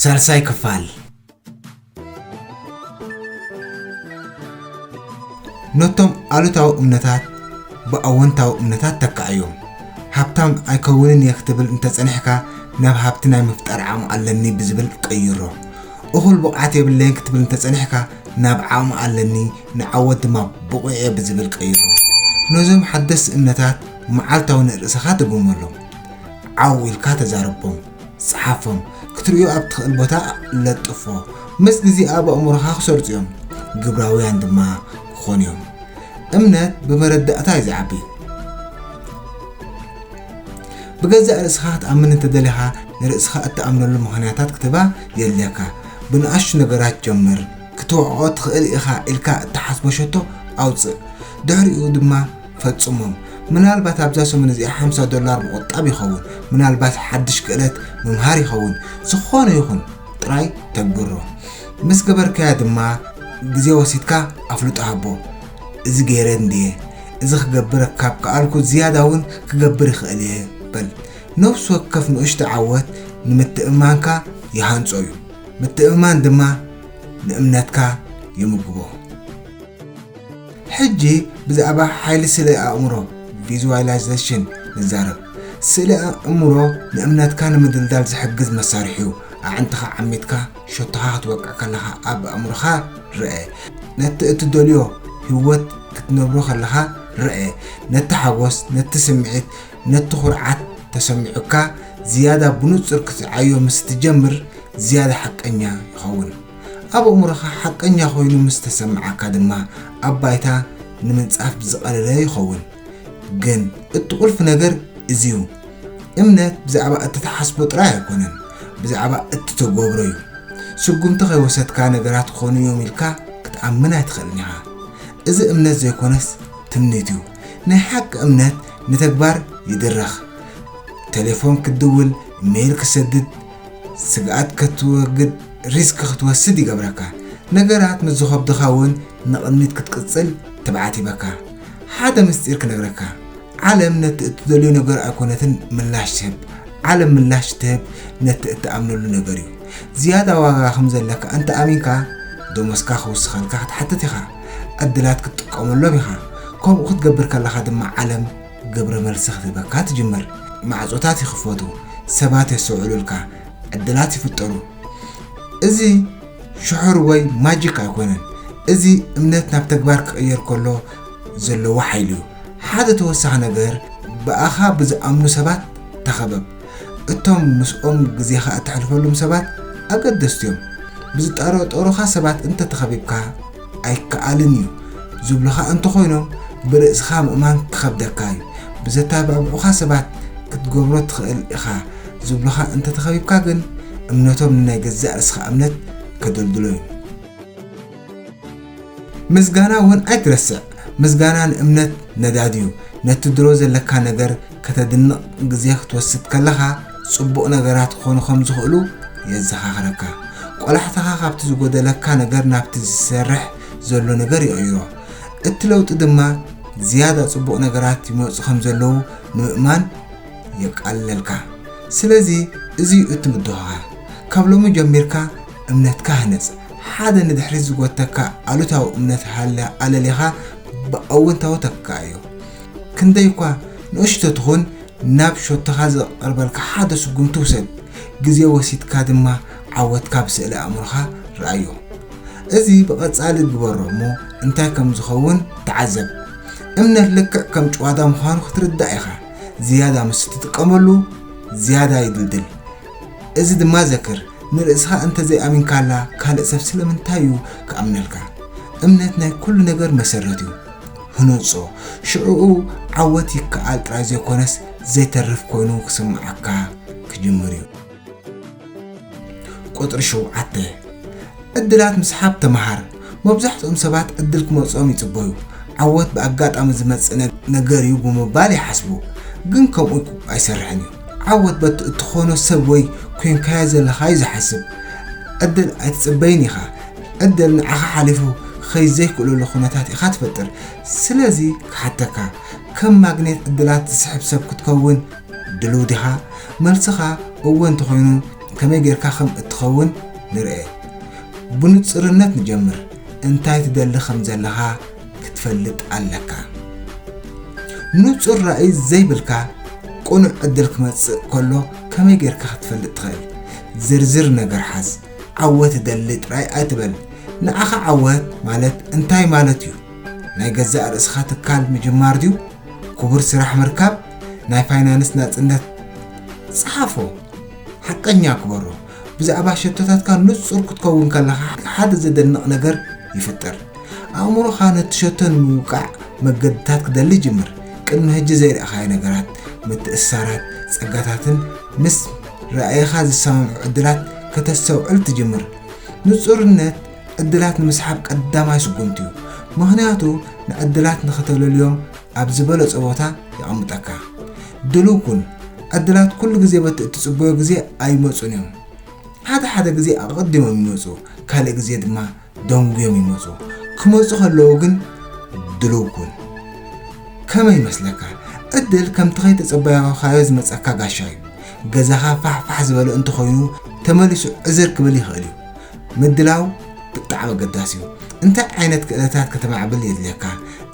ሳልሳይ ክፋል ነቶም ኣሉታዊ እምነታት ብኣወንታዊ እምነታት ተካኣዮም ሃብታም ኣይከውንን እየ ክትብል እንተፀኒሕካ ናብ ሃብቲ ናይ ምፍጣር ዓቕሚ ኣለኒ ብዝብል ቀይሮ እኹል ብቕዓት የብለይን ክትብል እንተፀኒሕካ ናብ ዓቕሚ ኣለኒ ንዓወት ድማ ብቑዕ እየ ብዝብል ቀይሮ ነዞም ሓደስቲ እምነታት መዓልታዊ ንርእስኻ ትግመሎም ዓው ኢልካ ተዛረቦም፣ ጽሓፎም፣ ክትርእዮ ኣብ ትኽእል ቦታ ለጥፎ፣ ምስ ግዜ ኣብ ኣእምሮኻ ክሰርጹ እዮም፣ ግብራውያን ድማ ክኾኑ እዮም። እምነት ብመረዳእታ እዩ ዝዓቢ። ብገዛእ ርእስኻ ክትኣምን እንተደሊኻ ንርእስኻ እትኣምነሉ ምኽንያታት ክትባ የድልየካ። ብንኣሽቱ ነገራት ጀምር። ክትወዕኦ ትኽእል ኢኻ ኢልካ እትሓስቦ ሸቶ ኣውጽእ። ድሕሪኡ ድማ ፈጽሞም ምናልባት ኣብዛ ሰሙን እዚኣ ሓምሳ ዶላር ምቑጣብ ይኸውን ምናልባት ሓድሽ ክእለት ምምሃር ይኸውን ዝኾነ ይኹን ጥራይ ተግብሮ ምስ ገበርካያ ድማ ግዜ ወሲድካ ኣፍልጦ ሃቦ እዚ ገይረ እንድየ እዚ ክገብረ ካብ ከኣልኩ ዝያዳ እውን ክገብር ይኽእል እየ በል ነፍሲ ወከፍ ንእሽቶ ዓወት ንምትእምማንካ ይሃንጾ እዩ ምትእምማን ድማ ንእምነትካ ይምግቦ ሕጂ ብዛዕባ ሓይሊ ስእለ ኣእምሮ፣ Visualization፣ ንዛረብ። ስእለ ኣእምሮ ንእምነትካ ንምድልዳል ዝሕግዝ መሳርሒ'ዩ። ኣዕንትኻ ዓሚትካ ሸቶኻ ክትወቅዕ ከለኻ ኣብ ኣእምሮኻ ርኣ። ነቲ እትደልዮ ህይወት ክትነብሮ ከለኻ ርኣ። ነቲ ሓጎስ፣ ነቲ ስምዒት፣ ነቲ ኩርዓት ተሰሚዑካ ዝያዳ ብንጹር ክትርዓዮ ምስ እትጀምር ዝያዳ ሓቀኛ ይኸውን። ኣብ ኣእምሮኻ ሓቀኛ ኮይኑ ምስ ተሰምዓካ ድማ ኣብ ባይታ ንምንጻፍ ዝቐለለ ይኸውን። ግን እቲ ቁልፊ ነገር እዚ'ዩ፣ እምነት ብዛዕባ እትትሓስቦ ጥራይ ኣይኮነን፣ ብዛዕባ እትተገብሮ'ዩ። ስጉምቲ ከይወሰድካ ነገራት ክኾኑ እዮም ኢልካ ክትኣምን ኣይትኽእልን ኢኻ። እዚ እምነት ዘይኮነስ ትምኒት'ዩ። ናይ ሓቂ እምነት ንተግባር ይድርኽ። ተሌፎን ክትድውል፣ ኢመይል ክትሰድድ፣ ስግኣት ከትወግድ ሪስክ ክትወስድ ይገብረካ። ነገራት ምስ ዝኸብዱኻ እውን ንቕድሚት ክትቅጽል ትብዓት ይህበካ። ሓደ ምስጢር ክነግረካ፣ ዓለም ነቲ እትደልዮ ነገር ኣይኮነትን ምላሽ ትህብ፣ ዓለም ምላሽ እትህብ ነቲ እትኣምነሉ ነገር እዩ። ዝያዳ ዋጋ ከም ዘለካ እንተ ኣሚንካ፣ ደሞዝካ ክውስኸልካ ክትሓትት ኢኻ፣ ዕድላት ክትጥቀመሎም ኢኻ፣ ከምኡ ክትገብር ከለኻ ድማ ዓለም ግብረ መልሲ ክትህበካ ትጅምር። ማዕጾታት ይኽፈቱ፣ ሰባት የስተውዕሉልካ፣ ዕድላት ይፍጠሩ። እዚ ሽሑር ወይ ማጂክ ኣይኮነን፣ እዚ እምነት ናብ ተግባር ክቕየር ከሎ ዘለዎ ሓይሊ'ዩ። ሓደ ተወሳኺ ነገር፣ ብኣኻ ብዝኣምኑ ሰባት ተኸበብ። እቶም ምስኦም ግዜኻ እተሕልፈሉም ሰባት ኣገደስቲ እዮም። ብዝጠረጠሩኻ ሰባት እንተ ተኸቢብካ፣ ኣይከኣልን እዩ ዝብሉኻ እንተ ዀይኖም፣ ብርእስኻ ምእማን ክኸብደካ እዩ። ብዘተባብዑኻ ሰባት ክትገብሮ ትኽእል ኢኻ ዝብሉኻ እንተ ተኸቢብካ ግን፣ እምነቶም ንናይ ገዛእ ርእስኻ እምነት ከደልድሎ እዩ። ምስጋና እውን ኣይትረስዕ ምስጋና ንእምነት ነዳድ እዩ ነቲ ድሮ ዘለካ ነገር ከተድንቕ ግዜ ክትወስድ ከለኻ ጽቡቕ ነገራት ክኾኑ ከም ዝኽእሉ የዘኻኽረካ ቆላሕታኻ ካብቲ ዝጎደለካ ነገር ናብቲ ዝሰርሕ ዘሎ ነገር ይቕይሮ እቲ ለውጢ ድማ ዝያዳ ጽቡቕ ነገራት ይመፁ ከም ዘለዉ ንምእማን የቃልለልካ ስለዚ እዚ እዩ እቲ ምድኻኻር ካብ ሎሚ ጀሚርካ እምነትካ ሃንጽ። ሓደ ንድሕሪት ዝጎተካ ኣሉታዊ እምነት ሃለ ኣለሊኻ ብኣወንታዊ ተካዮ። ክንደይ'ኳ ንእሽቶ ትኹን ናብ ሸቶኻ ዝቐርበልካ ሓደ ስጉምቲ ውሰድ። ግዜ ወሲድካ ድማ ዓወትካ ብስእለ ኣእምሮኻ ርኣዮ። እዚ ብቐጻሊ ግበሮ እሞ እንታይ ከም ዝኸውን ተዓዘብ። እምነት ልክዕ ከም ጭዋዳ ምዃኑ ክትርዳእ ኢኻ። ዝያዳ ምስ እትጥቀመሉ ዝያዳ ይድልድል። እዚ ድማ ዘክር። ንርእስኻ እንተ ዘይኣሚንካላ ካልእ ሰብ ስለምንታይ እዩ ክኣምነልካ? እምነት ናይ ኩሉ ነገር መሰረት እዩ። ህነጾ፣ ሽዕኡ ዓወት ይከኣል ጥራይ ዘይኮነስ ዘይተርፍ ኮይኑ ክስምዓካ ክጅምር እዩ። ቁጽሪ ሸውዓተ፣ ዕድላት ምስሓብ ተመሃር። መብዛሕትኦም ሰባት ዕድል ክመጽኦም ይጽበዩ፣ ዓወት ብኣጋጣሚ ዝመጽእ ነገር'ዩ ብምባል ይሓስቡ። ግን ከምኡ ኣይሰርሕን እዩ። ዓወት በቲ እትኾኖ ሰብ ወይ ኰይንካዮ ዘለኻ'ዩ ዝሓስብ። ዕድል ኣይትጽበይን ኢኻ። ዕድል ንዓኻ ሓሊፉ ክኸይድ ዘይክእለሉ ኵነታት ኢኻ ትፈጥር። ስለዚ ክሓተካ፣ ከም ማግኔት ዕድላት ዝስሕብ ሰብ ክትከውን ድሉው ዲኻ? መልስኻ እወ እንተዀይኑ፣ ከመይ ጌርካ ከም እትኸውን ንርኤ። ብንጹርነት ንጀምር፣ እንታይ ትደሊ ከም ዘለኻ ክትፈልጥ ኣለካ። ንጹር ራኢ ዘይብልካ ቅኑዕ ዕድል ክመጽእ ከሎ ከመይ ጌርካ ክትፈልጥ ትኽእል? ዝርዝር ነገር ሓዝ። ዓወት እደሊ ጥራይ ኣይትበል። ንዓኻ ዓወት ማለት እንታይ ማለት እዩ? ናይ ገዛእ ርእስኻ ትካል ምጅማር ድዩ? ክቡር ስራሕ ምርካብ? ናይ ፋይናንስ ናጽነት? ጽሓፎ። ሓቀኛ ግበሮ። ብዛዕባ ሸቶታትካ ንጹር ክትከውን ከለኻ ሓደ ዘደንቕ ነገር ይፍጠር። ኣእምሮኻ ነቲ ሸቶ ንምውቃዕ መገድታት ክደሊ ይጅምር። ቅድሚ ሕጂ ዘይረኣኻዮ ነገራት፣ ምትእስሳራት፣ ጸጋታትን ምስ ራእይኻ ዝሰማምዑ ዕድላት ከተስተውዕል ትጅምር። ንጹርነት ዕድላት ንምስሓብ ቀዳማይ ስጉምቲ'ዩ፣ ምኽንያቱ ንዕድላት ንኽተለልዮም ኣብ ዝበለጸ ቦታ የቐምጠካ። ድሉው ኩን፣ ዕድላት ኩሉ ግዜ በቲ እትጽበዮ ግዜ ኣይመጹን እዮም። ሓደ ሓደ ግዜ ኣቐዲሞም ይመጹ፣ ካልእ ግዜ ድማ ደንጉዮም ይመጹ። ክመጹ ከለዉ ግን ድሉው ኩን። ከመይ ይመስለካ? ዕድል ከምቲ ከይተጸበያኻዮ ዝመጸካ ጋሻ እዩ። ገዛኻ ፋሕፋሕ ዝበለ እንተኾይኑ ተመሊሱ ዕዝር ክብል ይኽእል እዩ። ምድላው ብጣዕሚ ኣገዳሲ እዩ። እንታይ ዓይነት ክእለታት ከተማዕብል የድልየካ?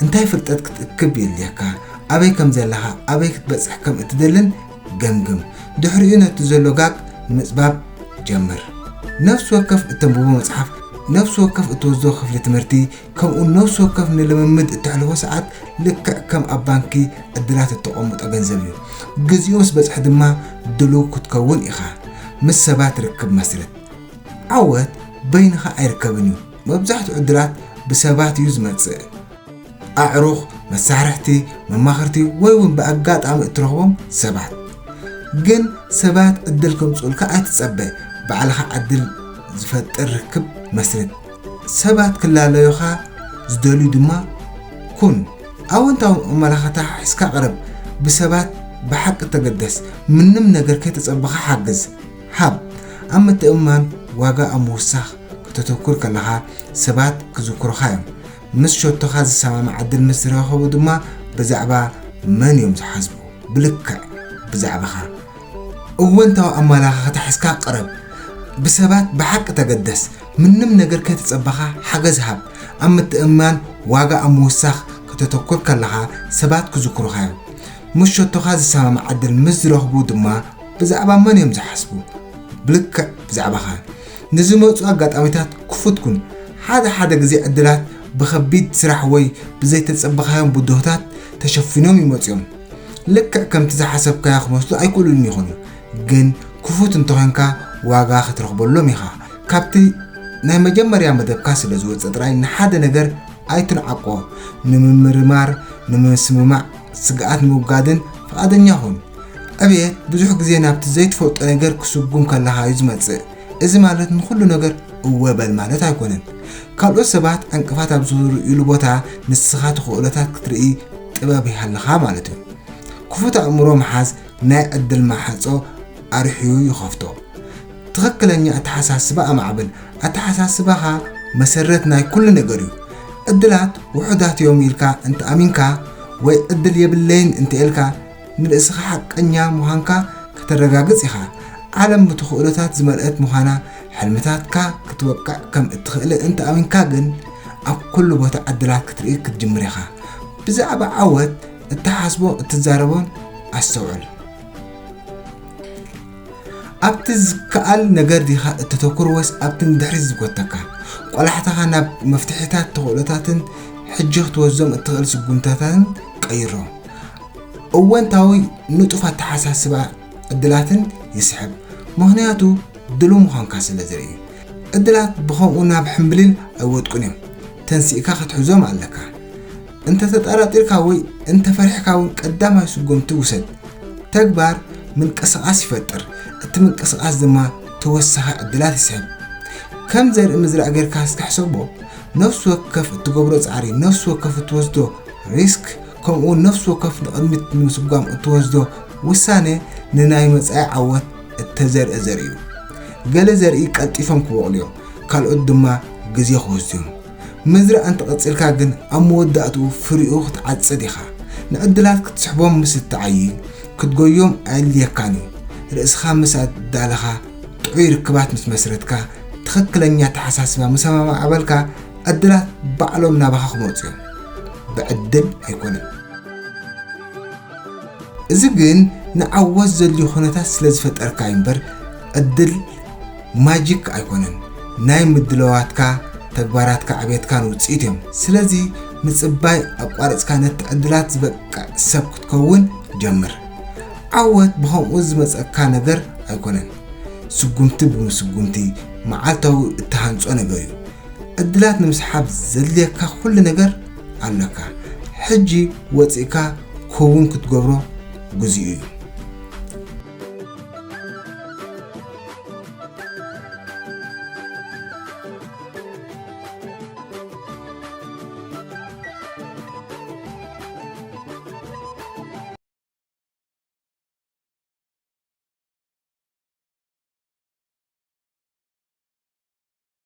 እንታይ ፍልጠት ክትእክብ የድልየካ? ኣበይ ከም ዘለኻ፣ ኣበይ ክትበጽሕ ከም እትደልን ገምግም። ድሕሪኡ ነቲ ዘሎ ጋግ ንምጽባብ ጀምር። ነፍሲ ወከፍ እተንብቦ መጽሓፍ፣ ነፍሲ ወከፍ እትወስዶ ክፍሊ ትምህርቲ፣ ከምኡውን ነፍሲ ወከፍ ንልምምድ እተሕልፎ ሰዓት ልክዕ ከም ኣብ ባንኪ ዕድላት እተቐምጦ ገንዘብ እዩ። ግዜኡ ምስ በጽሐ ድማ ድሉው ክትከውን ኢኻ። ምስ ሰባት ርክብ መስርት። ዓወት በይንኻ ኣይርከብን እዩ፣ መብዛሕትኡ ዕድላት ብሰባት እዩ ዝመጽእ። ኣዕሩኽ፣ መሳርሕቲ፣ መማኽርቲ ወይ እውን ብኣጋጣሚ እትረኽቦም ሰባት። ግን ሰባት ዕድል ከምጽኡልካ ኣይትጸበ፣ ባዕልኻ ዕድል ዝፈጥር ርክብ መስርት። ሰባት ክላለዩኻ ዝደልዩ ድማ ኩን። ኣወንታዊ ኣመላኸታ ሒዝካ ቅረብ፣ ብሰባት ብሓቂ ተገደስ፣ ምንም ነገር ከይተጸበኻ ሓግዝ። ሃብ። ኣብ ምትእምማን ዋጋ ኣብ ምውሳኽ ከተተኩር ከለኻ፣ ሰባት ክዝክሩኻ እዮም። ምስ ሸቶኻ ዝሰማማዕ ዕድል ምስ ዝረኸቡ ድማ ብዛዕባ መን እዮም ዝሓስቡ? ብልክዕ ብዛዕባኻ። እወንታዊ ኣመለኻኽታ ሒዝካ ቅረብ። ብሰባት ብሓቂ ተገደስ። ምንም ነገር ከይተጸበኻ ሓገዝ ሃብ። ኣብ ምትእምማን ዋጋ ኣብ ምውሳኽ ከተተኩር ከለኻ፣ ሰባት ክዝክሩኻ እዮም። ምስ ሸቶኻ ዝሰማማዕ ዕድል ምስ ዝረኽቡ ድማ ብዛዕባ መን እዮም ዝሓስቡ? ብልክዕ ብዛዕባኻ ንዝመጹ ኣጋጣሚታት ክፉት ኩን። ሓደ ሓደ ግዜ ዕድላት ብኸቢድ ስራሕ ወይ ብዘይተጸበኻዮም ብድሆታት ተሸፊኖም ይመጹ እዮም። ልክዕ ከምቲ ዝሓሰብካዮ ክመስሉ ኣይክእሉን ይኾኑ፣ ግን ክፉት እንተኾይንካ ዋጋ ክትረኽበሎም ኢኻ። ካብቲ ናይ መጀመርያ መደብካ ስለ ዝወጸ ጥራይ ንሓደ ነገር ኣይትንዓቆ። ንምምርማር፣ ንምስምማዕ፣ ስግኣት ንምውጋድን ፍቓደኛ ኩን። ዕብየት ብዙሕ ግዜ ናብቲ ዘይትፈልጦ ነገር ክስጉም ከለኻ እዩ ዝመጽእ። እዚ ማለት ንዅሉ ነገር እወ በል ማለት ኣይኰነን። ካልኦት ሰባት ዕንቅፋት ኣብ ዝርእዩሉ ቦታ ንስኻ እቲ ክእለታት ክትርኢ ጥበብ ይሃልኻ ማለት እዩ። ክፉት ኣእምሮ ምሓዝ ናይ ዕድል ማሕጾ ኣርሕዩ ይኸፍቶ። ትኽክለኛ ኣተሓሳስባ ኣማዕብል። ኣተሓሳስባኻ መሰረት ናይ ኵሉ ነገር እዩ። ዕድላት ውሑዳት እዮም ኢልካ እንተ ኣሚንካ ወይ ዕድል የብለይን እንተ ኢልካ ንርእስኻ ሓቀኛ ምዃንካ ከተረጋግጽ ኢኻ። ዓለም ብተኽእሎታት ዝመልእት ምዃና፣ ሕልምታትካ ክትወቅዕ ከም እትኽእልን እንተ ኣሚንካ ግን፣ ኣብ ኩሉ ቦታ ዕድላት ክትርኢ ክትጅምር ኢኻ። ብዛዕባ ዓወት እትሓስቦ እትዛረቦን ኣስተውዕል። ኣብቲ ዝከኣል ነገር ዲኻ እተተኩር ወይስ ኣብቲ ንድሕሪት ዝጎተካ? ቆላሕታኻ ናብ መፍትሒታት፣ ተኽእሎታትን ሕጂ ክትወስዶም እትኽእል ስጉምትታትን ቀይሮ። እወንታዊ ንጡፍ ኣተሓሳስባ ዕድላትን ይስሕብ፣ ምኽንያቱ ድሉው ምዃንካ ስለ ዘርኢ። ዕድላት ብኸምኡ ናብ ሕምብሊል ኣይወድቁን እዮም፣ ተንሲእካ ክትሕዞም ኣለካ። እንተ ተጠራጢርካ ወይ እንተ ፈሪሕካ እውን ቀዳማይ ስጉምቲ ውሰድ። ተግባር ምንቅስቓስ ይፈጥር፣ እቲ ምንቅስቓስ ድማ ተወሳኺ ዕድላት ይስሕብ። ከም ዘርኢ ምዝራእ ጌርካ እስከ ሕሰቦ፣ ነፍሲ ወከፍ እትገብሮ ጻዕሪ፣ ነፍሲ ወከፍ እትወስዶ ሪስክ፣ ከምኡውን ነፍሲ ወከፍ ንቕድሚት ንምስጓም እትወስዶ ውሳነ ንናይ መጻኢ ዓወት እተዘርእ ዘርኢ እዩ። ገለ ዘርኢ ቀልጢፎም ክበቑሉ እዮም፣ ካልኦት ድማ ግዜ ክወስዱ እዮም። ምዝራእ እንተ ቐጺልካ ግን ኣብ መወዳእትኡ ፍሪኡ ክትዓጽድ ኢኻ። ንዕድላት ክትስሕቦም ምስ እትዓዪ፣ ክትጎዮም ኣየድልየካን እዩ። ርእስኻ ምስ ኣዳለኻ፣ ጥዑይ ርክባት ምስ መስረትካ፣ ትኽክለኛ ኣተሓሳስባ ምስ ኣማዕበልካ፣ ዕድላት ባዕሎም ናባኻ ክመጹ እዮም። ብዕድል ኣይኮነን። እዚ ግን ንዓወት ዘድልዩ ኩነታት ስለ ዝፈጠርካ እዩ'ምበር ዕድል ማጂክ ኣይኮነን። ናይ ምድላዋትካ፣ ተግባራትካ፣ ዕቤትካን ውጽኢት እዮም። ስለዚ ምጽባይ ኣቋሪጽካ ነቲ ዕድላት ዝበቅዕ ሰብ ክትከውን ጀምር። ዓወት ብኸምኡ ዝመጸካ ነገር ኣይኮነን። ስጉምቲ ብምስጉምቲ፣ መዓልታዊ እትሃንጾ ነገር እዩ። ዕድላት ንምስሓብ ዘድልየካ ኩሉ ነገር ኣለካ ሕጂ ወጺእካ ክውን ክትገብሮ ግዚኡ እዩ።